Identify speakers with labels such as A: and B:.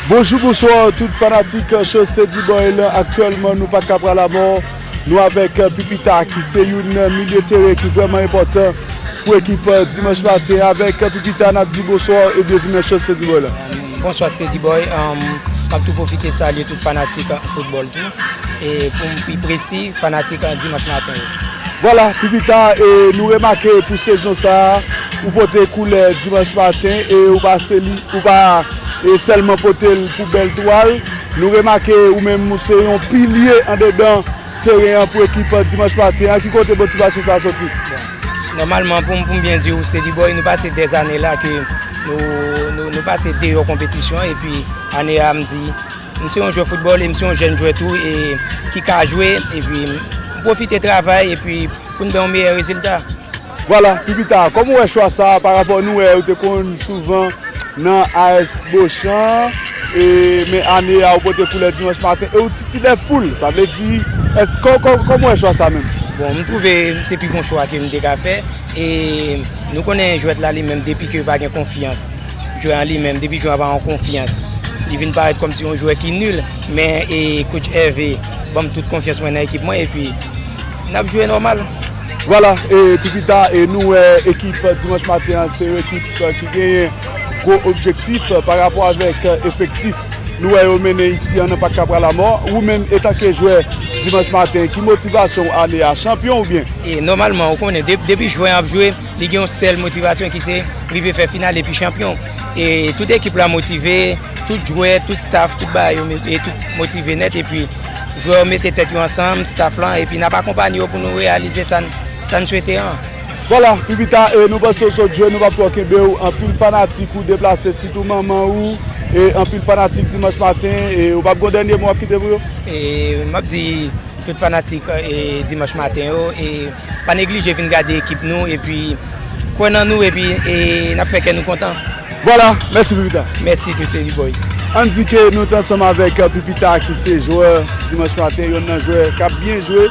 A: Bonjou bonsoir tout fanatik show Steady Boy lan aktyèlman nou pa ka pral amò nou avèk Pipita ki se youn milye tere ki vrèman enpòtan pou ekip Dimanche Matin avèk Pipita nap di bonsoir e byenvini nan show Steady Boy lan. Bonswa Steady Boy,
B: map tou pwofite salye tout fanatik football tou e poum pi presi fanatik Dimanche Matin yo. Vwala, pi
A: pita e nou remake pou sezon sa a, ou pote koulè Dimanch Maten e ou pa seli, ou pa e sèlman pote l pou bèl twal. Nou remake ou menm ou se yon pilye andedan teren an pou ekip Dimanch Maten an. Ki kote motivasyon sa a soti? Nòmalman,
B: pou m byen di ou, Steady Boy, nou pase dè zane la ke nou pase deyò konpetisyon epi ane a m di. M se yon jwè foutbòl e m se yon jèn jwè tou e ki ka jwe epi m pwofite travay epi pou n bay yon meyè rezilta. Vwala, pi
A: pita, kòman ou wè chwa sa a parapò nou wè ou te konn souvan nan AS Bochan e men ane a ou pote koulè Dimanch Maten e ou titile foul? Sa vle di, kòman ou wè chwa sa menm? Bon, m twouve
B: se pi bon chwa ke m te ka fè. E nou konnen jwèt la li menm depi ke pa gen konfyans, jwè an li menm depi jwè an pa an konfyans, li vin parèt kòm si yon jwè ki nul, men e coach Hervé banm tout konfyans mwen nan ekip mwen epi nap jwe nòmal. Vwala e
A: pou pita e nou wè ekip Dimanche Maten an se yon ekip ki genyen gwo objektif pa rapò avèk efektif. Nou wè yo mennen isi an nan Pak Kapra Lamò. Ou menm etanke jwè Dimanch Maten, ki motivasyon w ane a? Chanpyon oubyen? Nòmalman ou konnen
B: depi jwè an ap jwe li gen yon sèl motivasyon ki se rive fè final epi chanpyon. E tout ekip la motive, tout jwè, tout staff, tout bagay yo motive nèt epi jwè yo mete tèt yo ansanm, staff lan epi n ap akonpanye yo pou nou reyalize sa n swete an. Voila pi
A: pita e nou panse ou sot jwe nou pap twò kenbe ou anpil fanatik ou deplase sitou manman ou e anpil fanatik dimanch maten e ou pap gon dènye mo wap kite pou yo? E map di
B: tout fanatik e dimanch maten yo e pa neglije vin gade ekip nou epi kwè nan nou epi e nap fè kè nou kontan. Voila mèsi
A: pi pita. Mèsi tou Seri boy.
B: Ann di ke nou
A: t ansanm avèk pi pita ki se jwè dimanch maten yonn nan jwè kap byen jwe.